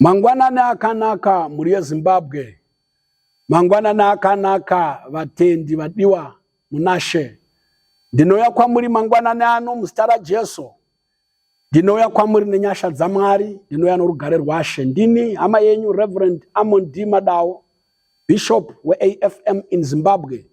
Mangwanani akanaka mhuri yeZimbabwe. Mangwanani akanaka vatendi vadiwa munashe. Ndinouya kwamuri mangwanani ano muzita raJesu. Ndinouya kwamuri nenyasha dzaMwari, ndinouya norugare rwaShe. Ndini hama yenyu Reverend Amon D Madawo, Bishop weAFM in Zimbabwe.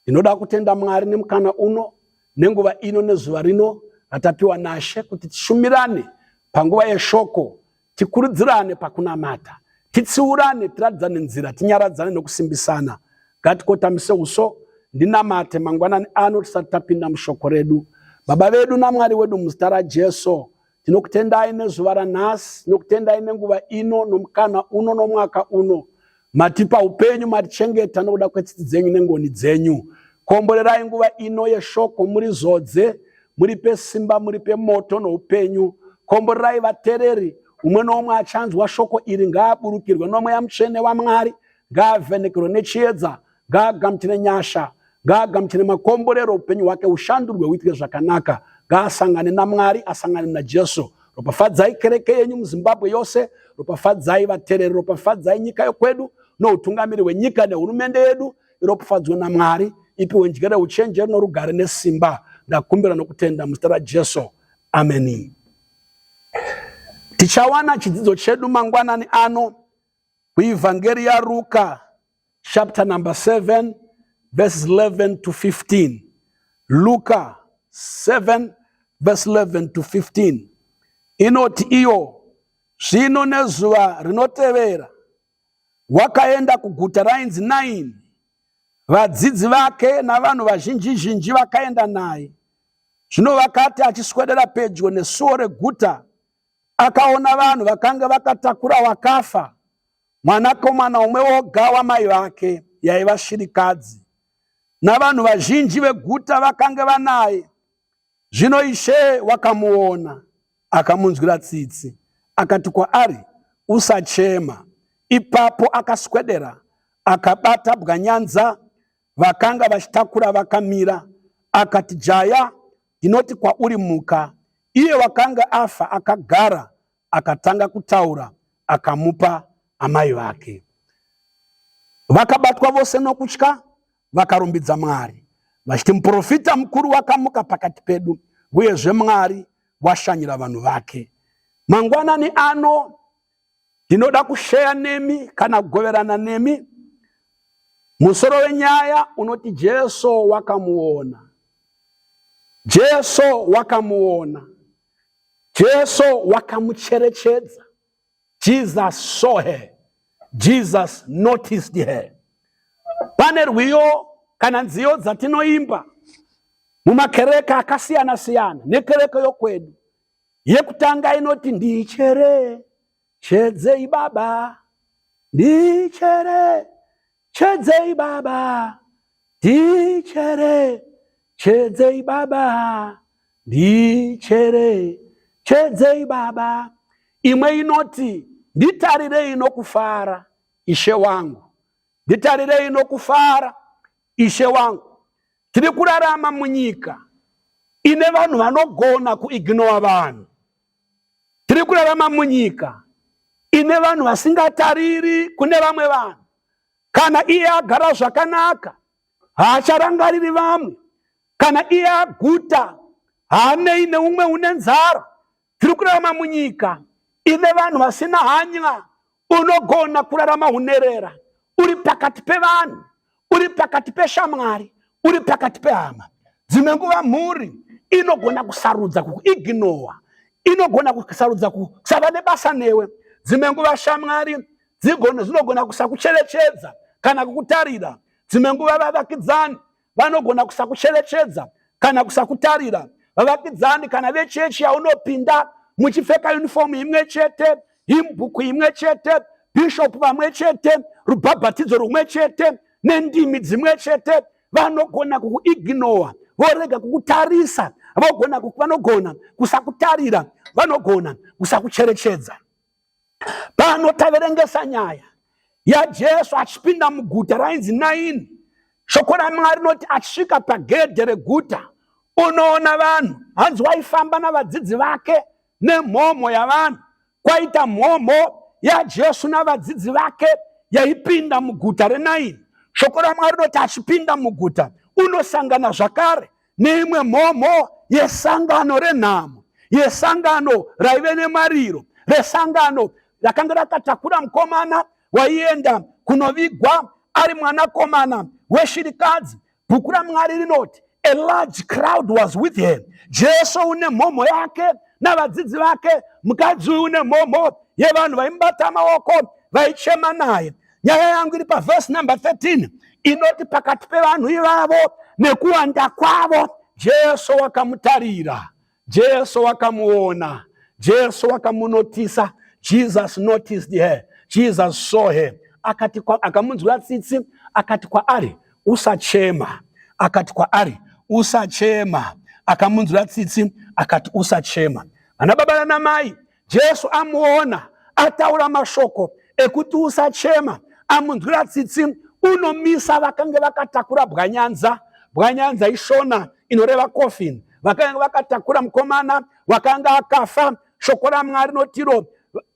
Ndinoda kutenda Mwari nemukana uno nenguva ino nezuva rino ratapiwa naShe kuti tishumirane panguva yeshoko, tikurudzirane pakunamata, titsiurane, tiratidzane nzira, tinyaradzane nokusimbisana. Ngatikotamise uso, ndinamate mangwanani ano tisati tapinda mushoko redu. Baba vedu naMwari wedu muzita raJesu, Tinokutendai nezuva ranhasi, nokutendai nenguva ino, nomukana uno, nomwaka uno. Matipa upenyu, matichengeta nokuda kwetsitsi dzenyu nengoni dzenyu. Komborerai nguva ino yeshoko, muri zodze, muripe simba, muripe moto noupenyu. Komborerai vatereri, umwe noumwe achanzwa shoko iri ngaaburukirwe nomweya mutsvene waMwari, ngaavhenekerwe nechiedza ngaagamuchire nyasha ngaagamuchire makomborero upenyu hwake ushandurwe huitike zvakanaka ngaasangane namwari asangane najesu ropafadzai kereke yenyu muzimbabwe yose ropafadzai vatereri ropafadzai nyika yokwedu noutungamiri hwenyika nehurumende yedu iropafadzwe namwari ipiwe njere uchenjeri norugare nesimba ndakumbira nokutenda muzita rajesu ameni tichawana chidzidzo chedu mangwanani ano kuivhangeri yaruka chapter number 7 verses 11 to 15 luka 7 verse 11 to 15 inoti iyo zvino nezuva rinotevera wakaenda kuguta rainzi naini vadzidzi vake navanhu vazhinji zhinji vakaenda naye zvino vakati achiswedera pedyo nesuo reguta akaona vanhu vakanga vakatakura wakafa mwanakomana umwe woga wamai vake yaiva shirikadzi navanhu vazhinji veguta vakange vanaye zvino ishe wakamuona akamunzwira tsitsi akati kwaari usachema ipapo akaswedera akabata bwanyanza vakanga vachitakura vakamira akati jaya ndinoti kwauri muka iye wakanga afa akagara akatanga kutaura akamupa amai vake. Vakabatwa vose nokutya vakarumbidza Mwari vachiti, muprofita mukuru wakamuka pakati pedu, uyezve Mwari washanyira vanhu vake. Mangwanani ano ndinoda kusheya nemi kana kugoverana nemi musoro wenyaya unoti Jesu wakamuona. Jesu wakamuona. Jesu wakamucherechedza. Jesus saw her. Jesus noticed her. Pane rwiyo kana nziyo dzatinoimba mumakereke akasiyana siyana nekereke yokwedu yekutanga inoti ndichere Chedzei baba ndichere chedzei baba ndichere chedzei baba ndichere chedzei baba imwe inoti nditarirei nokufara ishe wangu nditarirei nokufara ishe wangu tiri kurarama munyika ine vanhu vanogona kuignora vanhu Tiri kurarama munyika ine vanhu vasingatariri kune vamwe vanhu. Kana iye agara zvakanaka, haacharangariri vamwe. Kana iye aguta, haanei neumwe une nzara. Tiri kurarama munyika ine vanhu vasina hanya Unogona kurarama unherera uri pakati pevanhu, uri pakati peshamwari, uri pakati pehama. Dzimwe nguva mhuri inogona kusarudza kukuignowa, inogona kusarudza kusava nebasa newe. Dzimwe nguva shamwari dzinogona kusakucherechedza kana kukutarira. Dzimwe nguva vavakidzani vanogona kusakucherechedza kana kusakutarira vavakidzani kana vechechi yaunopinda muchipfeka unifomu imwe chete himbuku imwe chete bhishopu vamwe chete rubhabhatidzo rumwe chete nendimi dzimwe chete vanogona kukuignowa vorega kukutarisa vanogona kusakutarira vanogona kusakucherechedza pano taverengesa nyaya yajesu achipinda muguta rainzi naini shoko ramwari rinoti achisvika pagedhe reguta unoona vanhu hanzi waifamba navadzidzi vake nemhomho yavanhu kwaita mhomho yajesu navadzidzi vake yaipinda muguta renaini shoko ramwari rinoti achipinda muguta unosangana zvakare neimwe mhomho yesangano renhamo yesangano raive nemariro resangano rakanga rakatakura mukomana waienda kunovigwa ari mwanakomana weshirikadzi bhuku ramwari rinoti a large crowd was with him jesu une mhomho yake navadzidzi vake mukadzi uyu une mhomho yevanhu vaimubata maoko vaichema naye nyaya yangu iri pavhesi number 13 inoti pakati pevanhu ivavo nekuwanda kwavo jesu wakamutarira jesu wakamuona jesu wakamunotisa jesus noticed her jesus saw her akati akamunzwira tsitsi akati kwaari usachema akati kwaari usachema akamunzwira tsitsi akati usachema vana baba nanamai Jesu amuona ataura mashoko ekuti usachema, amunzwira tsitsi, unomisa vakange vakatakura bwanyanza. Bwanyanza ishona inoreva coffin. Vakange vakatakura mukomana wakanga akafa, shoko raMwari notiro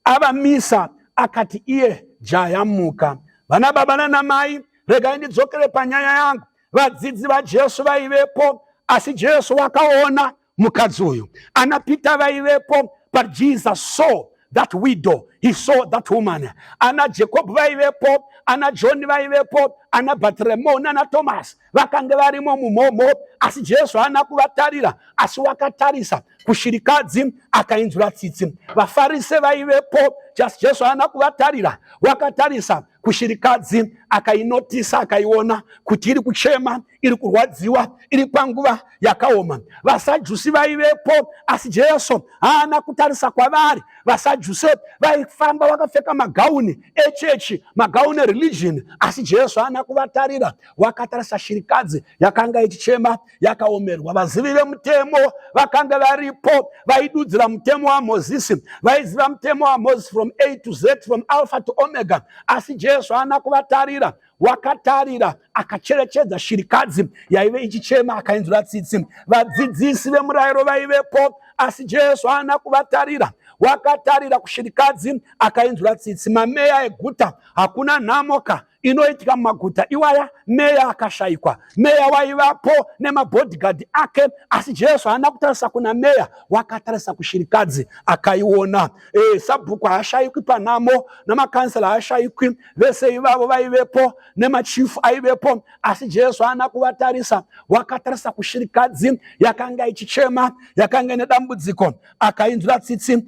avamisa, akati iye jaya muka. Vana baba nana mai, regai ndidzokere panyaya yangu. Vadzidzi vaJesu vaivepo, asi Jesu wakaona mukadzi uyu ana pita vaivepo but jesus saw that widow he saw that woman ana jacob vaivepo ana john vaivepo ana batremo nana thomas vakange varimo mumhomho asi jesu haana kuvatarira asi wakatarisa kushirikadzi akainzura tsitsi vafarise vaivepo just jesu haana kuvatarira wakatarisa kushirikadzi akainotisa akaiona kuti iri kuchema iri kurwadziwa iri panguva yakaoma vasajusi vaivepo asi jesu haana kutarisa kwavari vasajusi vaifamba vakapfeka magauni echechi magauni ereligion asi jesu haana kuvatarira wakatarisa shirikadzi yakanga ichichema yakaomerwa vazivi vemutemo vakanga varipo vaidudzira mutemo wamozisi vaiziva mutemo wamozisi from a to z from alpha to omega asi jesu haana kuvatarira wakatarira akacherechedza shirikadzi yaive ichichema akainzwira tsitsi vadzidzisi vemurayiro vaivepo asi jesu haana kuvatarira wakatarira kushirikadzi akainzwira tsitsi mameya eguta hakuna nhamoka inoitika mumaguta iwaya meya akashayikwa meya waivapo nemabhodhigadi ake asi jesu haana kutarisa kuna meya wakatarisa kushirikadzi akaiona e, sabhuku haashayikwi panhamo namakansela haashayikwi vese ivavo vaivepo nemachifu aivepo asi jesu haana kuvatarisa wakatarisa kushirikadzi yakanga ichichema yakanga ine dambudziko akainzwira tsitsi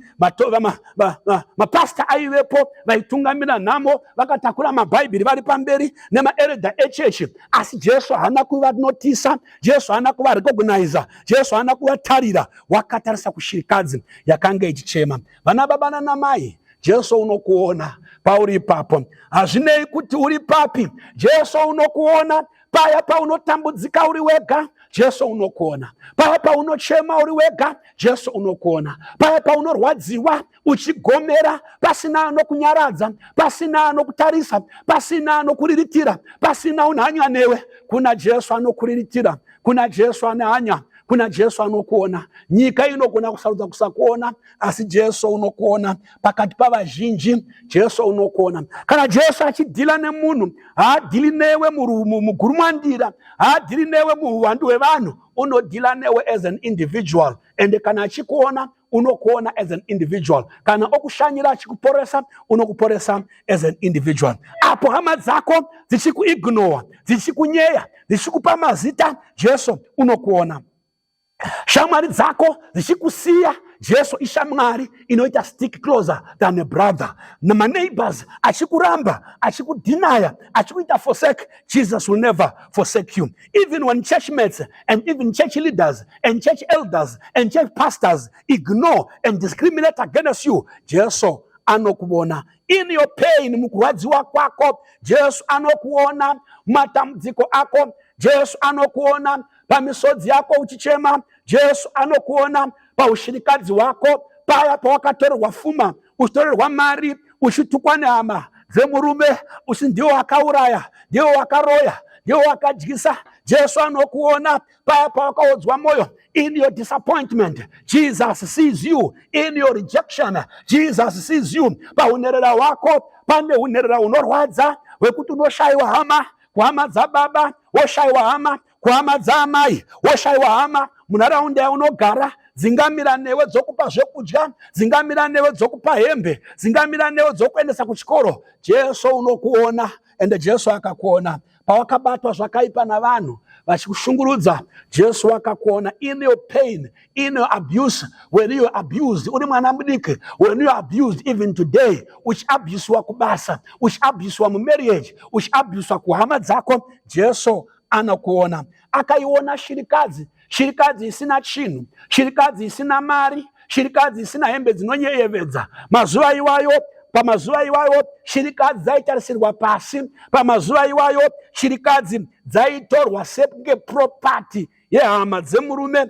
mapasta aivepo vaitungamira nhamo vakatakura mabhaibheri vari pamberi nemaeredha echechi asi jesu haana kuvanotisa jesu haana kuvarekognaiza jesu haana kuvatarira wakatarisa kushirikadzi yakanga ichichema vana baba nanamai Jesu unokuona pauri ipapo, hazvinei kuti uri papi. Jesu unokuona paya paunotambudzika uri wega jesu unokuona paya paunochema uri wega jesu unokuona paya paunorwadziwa uchigomera pasina anokunyaradza pasina anokutarisa pasina anokuriritira pasina unhanya newe kuna jesu anokuriritira kuna jesu ane hanya kuna jesu anokuona nyika inogona kusarudza kusakuona asi jesu unokuona pakati pavazhinji jesu unokuona kana jesu achidhila nemunhu haadhili newe mugurumwandira haadhili newe muhuwandu hwevanhu unodhila newe as an individual ende kana achikuona unokuona as an individual kana okushanyira achikuporesa unokuporesa as an individual apo hama dzako dzichikuignowa dzichikunyeya dzichikupa mazita jesu unokuona shamwari dzako dzichikusiya jesu ishamwari inoita stick closer than a brother maneighbors achikuramba achikudhinaya achikuita forsake jesus will never forsake you even when church mates and even church leaders and church elders and church pastors ignore and discriminate against you jesu anokuvona in your pain mukurwadziwa kwako jesu anokuona matambudziko ako jesu anokuona pamisodzi yako uchichema jesu anokuona paushirikadzi hwako paya pawakatorerwa fuma uchitorerwa mari uchitukwa nehama dzemurume usi ndiwo akauraya ndiwo wakaroya ndiwo wakadyisa jesu anokuona paya pawakaodzwa mwoyo in your disappointment jesus sees you in your rejection jesus sees you paunherera hwako pane unherera unorwadza hwekuti unoshayiwa hama kuhama dzababa woshaiwa hama kuhama dzaamai woshaiwa hama munharaunda yaunogara dzingamira newe dzokupa zvekudya dzingamira newe dzokupa hembe dzingamira newe dzokuendesa kuchikoro jesu unokuona ende jesu akakuona pawakabatwa zvakaipa navanhu vachikushungurudza jesu wakakuona in your pain in your abuse when you abused uri mwana mudiki when you abused even today uchiabuswa kubasa uchiabuswa mumarriage uchiabuswa kuhama dzako jesu anokuona akaiona shirikadzi shirikadzi isina chinhu shirikadzi isina mari shirikadzi isina hembe dzinonyeyevedza mazuva iwayo pamazuva iwayo shirikadzi dzaitarisirwa pasi pamazuva iwayo shirikadzi dzaitorwa sekunge propati yehama dzemurume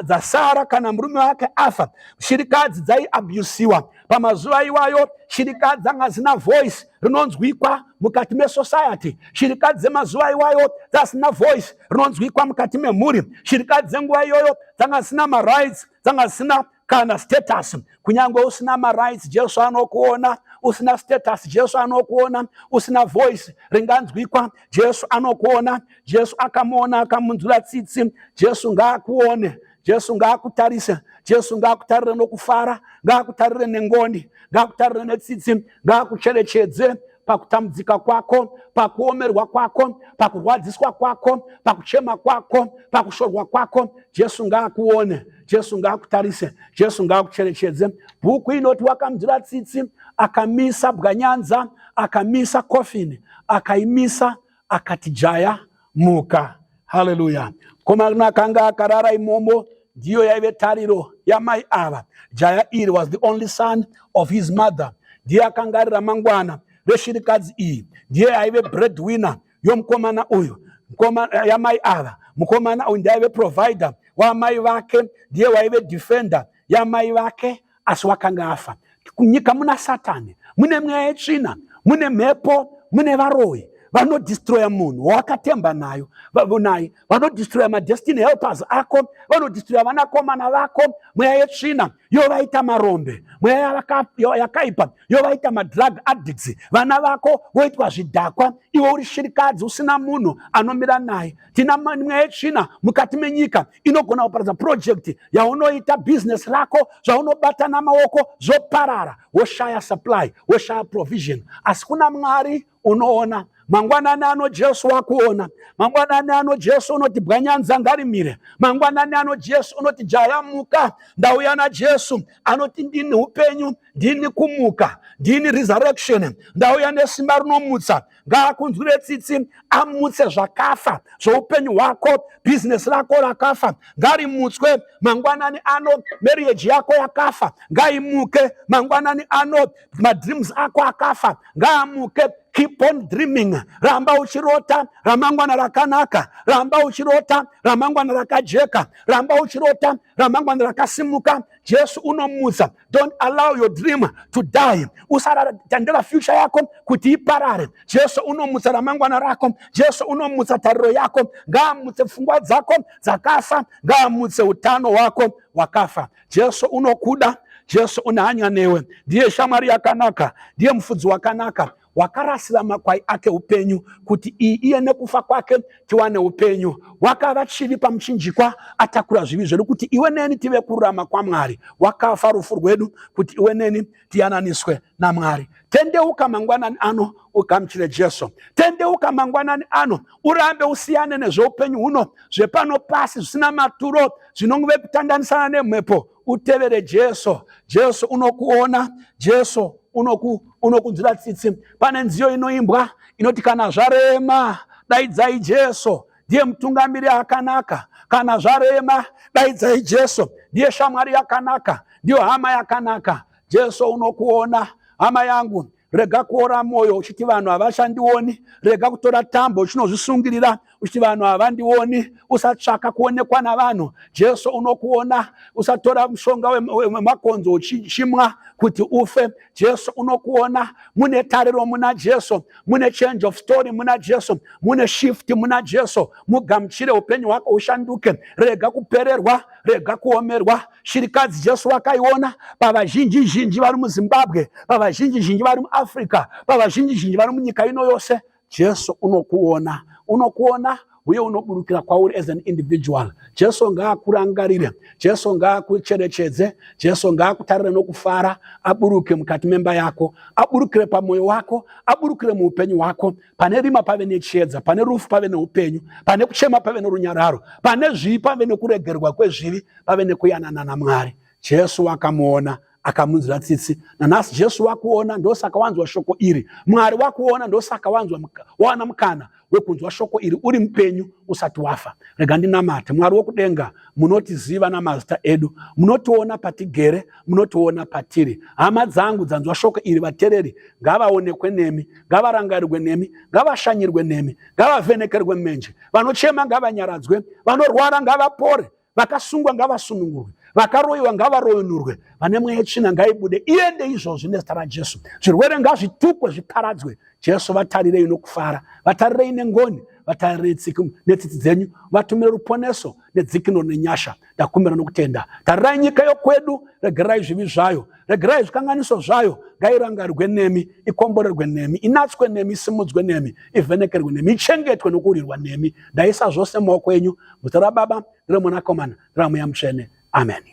dzasara kana murume wake afa shirikadzi dzaiabusiwa pamazuva iwayo shirikadzi dzanga dzisina voice rinonzwikwa mukati mesociety shirikadzi dzemazuva iwayo dzasina voice rinonzwikwa mukati memhuri shirikadzi dzenguva iyoyo dzanga dzisina marights dzanga dzisina kana status kunyange usina marights jesu anokuona usina status jesu anokuona usina voice ringanzwikwa jesu anokuona jesu akamuona akamunzwira tsitsi jesu ngaakuone jesu ngaakutarise jesu ngaakutarire nokufara ngaakutarire nengoni ngaakutarire netsitsi ngaakucherechedze pakutambudzika kwako pakuomerwa kwako pakurwadziswa kwako pakuchema kwako pakushorwa kwako jesu ngaakuone jesu ngaakutarise jesu ngaakucherechedze bhuku inoti wakamdira tsitsi akamisa bwanyanza akamisa kofini akaimisa akati jaya muka haleluya komana akanga akarara imomo ndiyo yaive tariro yamai ava jaya iri was the only son of his mother ndiye akanga ari ramangwana reshirikadzi iyi ndiye aive breadwinner yomukomana uyu yamai ava mukomana uyu ndiaive provider wamai vake ndiye waive defender yamai vake asi wakanga afa kunyika muna satani mune mweya yetsvina mune mhepo mune varoyi vanodistroya munhu wawakatemba nayo naye vanodistroya madestiny helpers ako vanodistroya vanakomana vako mweya yetsvina yovaita marombe mweya yakaipa yovaita madrug addicts vana vako voitwa zvidhakwa iwe uri shirikadzi usina munhu anomira naye tina mweya yetsvina mukati menyika inogona kuparadza purojekiti yaunoita bhizinesi rako zvaunobata namaoko zvoparara woshaya supply woshaya provision asi kuna mwari unoona mangwanani ano jesu wakuona mangwanani ano jesu unoti bwanyanza ngarimire mangwanani ano jesu unoti jaya muka ndauya najesu anoti ndini upenyu ndini kumuka ndini resurrection ndauya nesimba rinomutsa ngaakunzwire tsitsi amutse zvakafa zvoupenyu hwako bhizinesi rako rakafa ngarimutswe mangwanani ano marriage yako yakafa ngaimuke mangwanani ano madreams ako akafa ngaamuke keep on dreaming ramba uchirota ramangwana rakanaka ramba uchirota ramangwana rakajeka ramba uchirota ramangwana rakasimuka jesu unomutsa don't allow your dream to die usatandira future yako kuti iparare jesu unomutsa ramangwana rako jesu unomutsa tariro yako ngaamutse pfungwa dzako dzakafa ngaamutse utano hwako hwakafa jesu unokuda jesu une hanya newe ndiye shamwari yakanaka ndiye mufudzi wakanaka wakarasira makwai ake upenyu kuti iye nekufa kwake tiwane upenyu wakava chivi pamuchinjikwa atakura zvivi zvedu kuti iwe neni tive kururama kwamwari wakafa rufu rwedu kuti iwe neni tiyananiswe namwari tendeuka mangwanani ano ugamuchire jesu tendeuka mangwanani ano urambe usiyane nezveupenyu huno zvepano pasi zvisina maturo zvinongove kutandanisana nemhepo utevere jesu jesu unokuona jesu unoku unokunzwira tsitsi pane nziyo inoimbwa inoti kana zvarema daidzai jesu ndiye mutungamiri akanaka kana zvarema daidzai jesu ndiye shamwari yakanaka ndiyo hama yakanaka jesu unokuona hama yangu rega kuora mwoyo uchiti vanhu havachandioni rega kutora tambo uchinozvisungirira uchiti vanhu havandioni usatsvaka kuonekwa navanhu jesu unokuona usatora mushonga wemakonzo uchichimwa kuti ufe jesu unokuona mune tariro muna jesu mune change of story muna jesu mune shift muna jesu mugamuchire upenyu hwako ushanduke rega kupererwa rega kuomerwa Shirikadzi Jesu wakaiona pavazhinji zhinji vari muZimbabwe, pavazhinji zhinji vari muAfrica, pavazhinji zhinji vari munyika ino yose. Jesu unokuona, unokuona uye unoburukira kwauri as an individual. Jesu ngaakurangarire, Jesu ngaakucherechedze, Jesu ngaakutarire nokufara, aburuke mukati memba yako, aburukire pamoyo wako, aburukire muupenyu hwako, Pane rima pave nechiedza, pane rufu pave neupenyu, pane kuchema pave norunyararo, pane zvivi pave nekuregerwa kwezvivi, pave nekuyanana naMwari. Jesu wakamuona akamunzira tsitsi. Nanhasi Jesu wakuona, ndosaka wanzwa shoko iri. Mwari wakuona, ndosaka wanzwa wawana mukana wekunzwa shoko iri uri mupenyu usati wafa. Rega ndinamate. Mwari wokudenga, munotiziva namazita edu, munotiona patigere, munotiona patiri. Hama dzangu dzanzwa shoko iri, vatereri ngavaonekwe nemi. ngavarangarirwe nemi ngavashanyirwe nemi ngavavhenekerwe menje vanochema ngavanyaradzwe vanorwara ngavapore vakasungwa ngavasunungurwe vakaroyiwa ngavaroyunurwe vane mweya yetsvina ngaibude iende izvozvi nezita rajesu zvirwere ngazvitukwe zviparadzwe jesu vatarirei nokufara vatarirei nengoni vatarirei netsitsi dzenyu vatumire ruponeso nedzikino nenyasha ndakumbira nokutenda tarirai nyika yokwedu regerai zvivi zvayo regerai zvikanganiso zvayo ngairangarwe nemi ikomborerwe nemi inatswe nemi isimudzwe nemi ivhenekerwe nemi ichengetwe nokurirwa nemi ndaisa zvose maoko enyu muzita rababa neremwanakomana neramweya mutsvene ameni